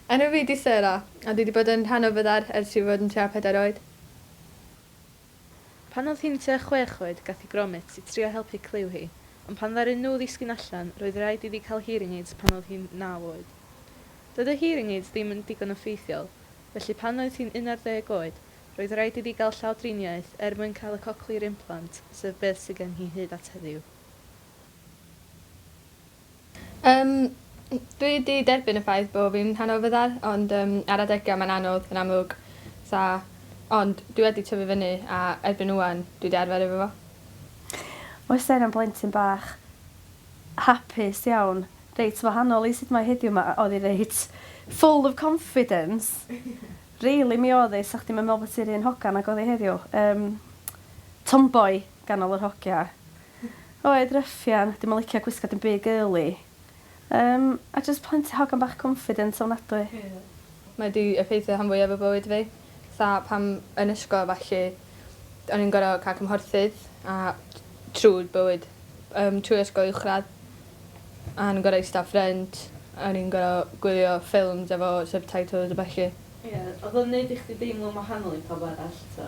Enw fi 'di Sarah, a dwi 'di bod yn rhan o Fyddar ers i fi fod yn tua pedair oed. Pan oedd hi'n tua chwech oed gath hi gromit i trio helpu clyw hi, ond pan ddaru nhw ddisgyn allan roedd raid iddi cael hearing aids pan oedd hi'n naw oed. Doedd y hearing aids ddim yn digon o ffeithiol, felly pan oedd hi'n unarddeg oed roedd raid iddi gael llawdriniaeth er mwyn cael y cochlear implant sef beth sydd gen hi hyd at heddiw. Yym dwi 'di derbyn y ffaith bo' fi'n rhan o fyddar ond yym ar adega mae'n anodd yn amlwg. Sa ond dwi wedi tyfu fyny a erbyn ŵan dwi 'di arfer efo fo. Oes Jen yn blentyn bach hapus iawn, reit wahanol i sut mae heddiw 'ma oedd hi reit full of confidence rili mi oedd hi, 'sa chdi'm yn meddwl bod hi'r un hogan ag oedd hi heddiw. Yym tomboy ganol yr hogia. Oed ruffian, dim yn licio gwisgo dim byd girly. Yym, a jyst plenty hogan bach confident ofnadwy. Mae 'di effeithio rhan fwyaf o bywyd fi. Fatha pan yn ysgol a ballu o'n i'n gor'o' ca'l cymhorthydd a trw bywyd yym trwy ysgol uwchradd a o'n i'n gor'o' ista ffrynt a o'n i'n gor'o' gwylio ffilms efo subtitles a ballu. Ie, oedd o'n neud i chdi deimlo'n wahanol i pawb arall, ta?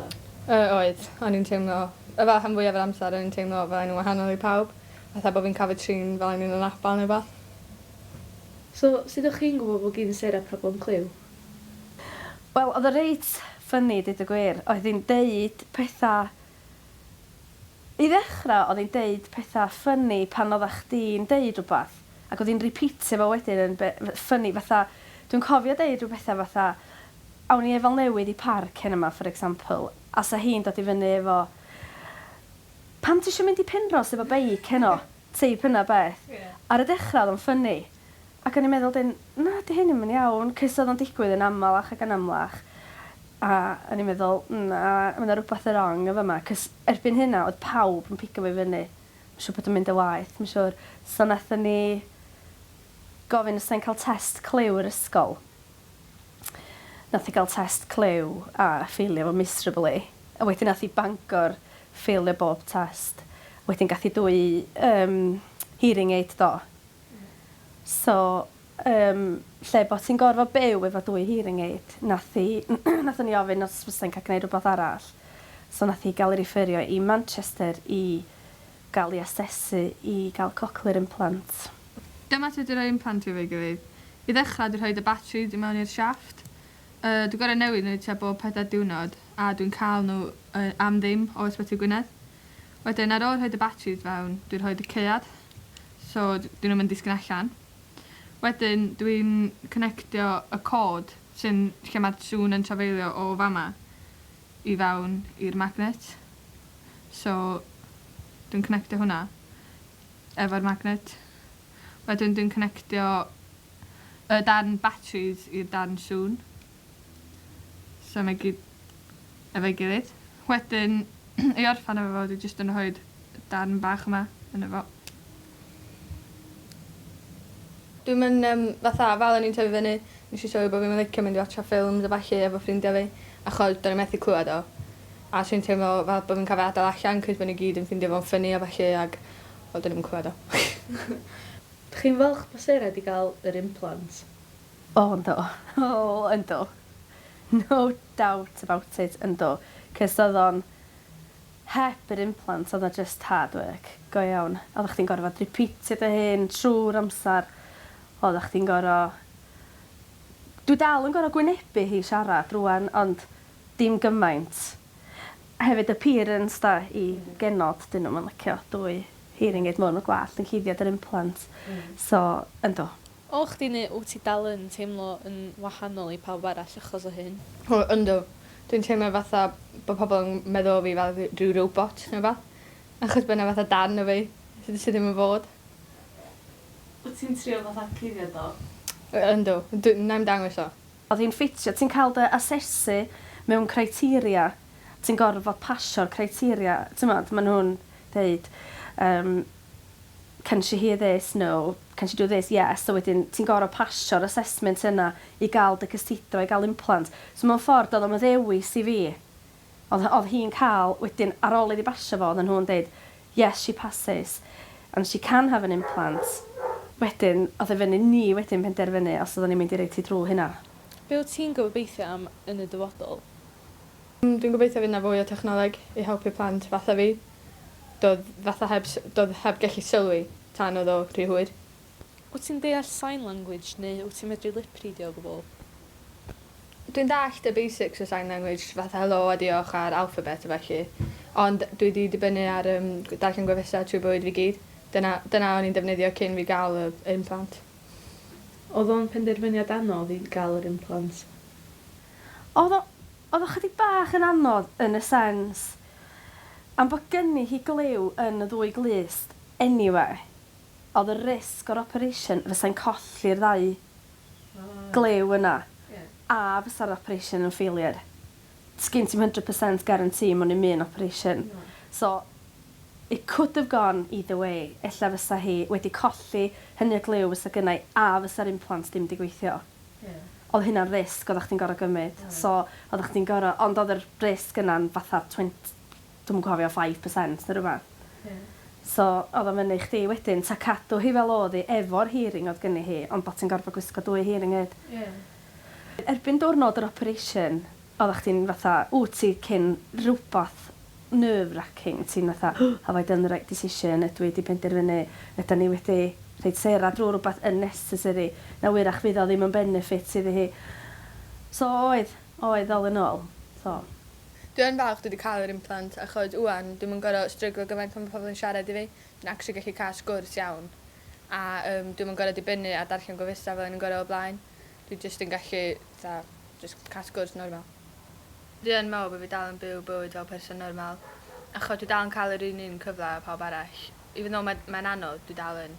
Yy oedd. O'n i'n teimlo yy fel rhan fwyaf yr amser o'n i'n teimlo fel o'n i'n wahanol i pawb. Fatha bo' fi'n ca'l fy trin fel o'n i'n anabal ne' wbath. So, sud o'ch chi'n gwbo bo' gin Sarah problem clyw? Wel, oedd o reit funny deud y gwir. Oedd hi'n deud petha I ddechrau oedd hi'n deud pethau ffyni pan oeddach chdi'n deud rhywbeth ac oedd hi'n rîpîtio fo wedyn yn ffyni fatha dwi'n cofio deud rhyw bethau fatha awn ni efal newydd i parc heno 'ma for example a 'sa hi'n dod i fyny efo pam ti isio mynd i Penrhos efo beic heno? Teip yna beth. Ar y dechra oedd o'n ffynni. Ac o'n i'n meddwl 'dyn, na 'di hyn ddim yn iawn, cys oedd o'n digwydd yn amalach ac yn amlach. A o'n i'n meddwl, na, ma' 'na rwbath yn rong yn fama, cys erbyn hynna oedd pawb yn pigo fi fyny. Ma'n siŵr bod o'n mynd yn waeth, ma'n siŵr. So nathon ni gofyn os 'sa hi'n ca'l test clyw i'r ysgol. Nath hi gael test clyw a ffeilio fo miserably. A wedyn nath hi Bangor ffeilio bob test. Wedyn gath hi dwy yym hearing aid do? Hmm. So yym lle bo' ti'n gorfod byw efo dwy hearing aid nath hi nathon ni ofyn os fysa hi'n ca'l gneud rwbath arall. So nath hi ga'l 'i rifferio i Manchester i gael ei asesu i gael cochlear implant. Dyma sut i roi implant i feigirydd. I ddechrau, dwi'n rhoi y batris i mewn i'r siafft. Yy, dwi'n gorau newid nhw tua bob pedair diwrnod, a dwi'n cael nhw yy am ddim o Ysbyty Gwynedd. Wedyn, ar ôl rhoi y batris fewn, dwi'n rhoi y caead, so 'dyn nhw'm yn disgyn allan. Wedyn, dwi'n connectio y cord sy'n... lle mae'r sŵn yn trafeilio o fama. i fewn i'r magnet so dwi'n connectio hwnna efo'r magnet wedyn dwi'n connectio y darn batris i'r darn sŵn so mae gyd efo'i gilydd wedyn i orffan efo fo dwi jyst yn rhoid darn bach yma yno fo. Dwi'm yn yym fatha fel o'n i'n tyfu fyny nesh i sylwi bo' fi'm yn licio mynd i watsio ffilms a ballu efo ffrindia fi achos do'n i methu clŵad o. A so o'n i'n teimlo fel bo' fi'n ca'l fy adal allan 'c'os bo' n'w gyd yn ffindio fo'n ffyni a ballu ag wel do'n i 'im yn clŵad o. Dych chi'n falch bo Sarah 'di ga'l yr implant? O yndw. O yndw. No doubt about it yndw. 'C'os odd o'n Heb yr implant oedd 'na jyst hard work go iawn. Oeddach chdi'n gorfod rîpîtio dy hun trwy'r amser. Oeddach chdi'n gor'o'... Dwi dal yn gor'o' gwynebu hi siarad rŵan ond dim gymaint. Hefyd y parents 'da i genod 'dyn nw'm yn licio dwy hearing aid mowr ma' gwallt yn cuddio dy implant so yndw. O chdi neu wt ti dal yn teimlo yn wahanol i pawb arall achos o hyn? O yndw. Dwi'n teimlo fatha bo' pobol yn meddwl o fi fel dwi rhyw robot ne' wbath. Achos bo' 'na fatha darn o fi sy sy ddim yn fod. Wt ti'n trio fatha cuddio do? O yndw. Dw- 'nai'm dangos o. Odd hi'n ffitio. Ti'n cael dy asesu mewn criteria. Ti'n gorfod pasio'r criteria. T'mod ma' nhw'n deud yym can she hear this, no, can she do this, yes, a wedyn ti'n gorfod pasio'r assessment yna i gael dy cysidro i gael implant. So mewn ffordd doedd o'm yn ddewis i fi. Oedd oedd hi'n cael, wedyn ar ôl iddi basio fo oedden nhw'n deud yes she passes and she can have an implant. Wedyn oedd e fyny ni wedyn penderfynu os oedden ni'n mynd i roid hi drwy hynna. Be wyt ti'n gobeithio am yn y dyfodol? Dwi'n gobeithio fydd 'na fwy o technoleg i helpu plant fatha fi. Do'dd fatha heb s- do'dd heb gellu sylwi tan o'dd o rhy hwyr. Wyt ti'n deall sign language neu wyt ti'n medru lipridio o gwbl? Dwi'n dallt y basics o sign language fatha helo a diolch a'r alphabet a felly. Ond dwi 'di dibynnu ar yym gw- darllen gwefusau trwy bywyd fi gyd. Dyna dyna o'n i'n defnyddio cyn fi ga'l y implant. O'dd o'n penderfyniad anodd i ga'l yr implant? Oedd o, oedd o chydig bach yn anodd yn y sens am bod gynni hi glyw yn y ddwy glust eniwe, oedd y risg o'r operation fysai'n colli'r ddau glyw yna a fysa'r operation yn failure. Sgin ti'm hundred percent guarantee mewn i'm un operation. So, it could have gone either way, ella fysa hi wedi colli hynny o glyw fysa gynna i a fysa'r implants dim di gweithio. Ie. Odd hynna'n risg oddach chdi'n gor'o' gymyd. Oedd. So oddach chdi'n gor'o'... Ond odd yr risg yna'n fatha twenty dwi'm yn cofio five percent ne' rwbath. Ie. So odd o fyny i chdi wedyn 'ta cadw hi fel odd 'i efo'r hearing odd gynni hi ond bo' ti'n gorfod gwisgo dwy hearing aid. Ie. Erbyn diwrnod yr operation Oeddach chdi'n fatha, wt ti cyn rwbath nerve racking, ti'n fatha have I done the right decision, ydw i 'di penderfynu, ydan ni wedi rhoid Sarah drwy rwbath unnecessary, na wyrach fydd o ddim yn benefit iddi hi. So oedd, oedd all in all. So. Dwi yn falch dwi 'di ca'l yr implant achos ŵan dwi'm yn gor'o' stryglo gymaint pan ma' pobol yn siarad i fi, dwi'n actually gallu ca'l sgwrs iawn a yym dwi'm yn gor'o' dibynnu ar darllen gofysta fel o'n i'n gor'o' o blaen. Dwi jyst yn gallu fatha jyst cael sgwrs normal. Dwi yn meddwl bod fi dal yn byw bywyd fel person normal achos dwi dal yn cael yr un un cyfle â pawb arall. Even though mae mae'n anodd, dwi dal yn.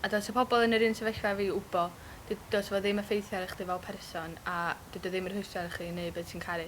A dylse pobl yn yr un sefyllfa â fi wbo, dy- dylse fo ddim effeithio ar chdi fel person a dydi o ddim yn rhwystro ar chi i neud be ti'n caru.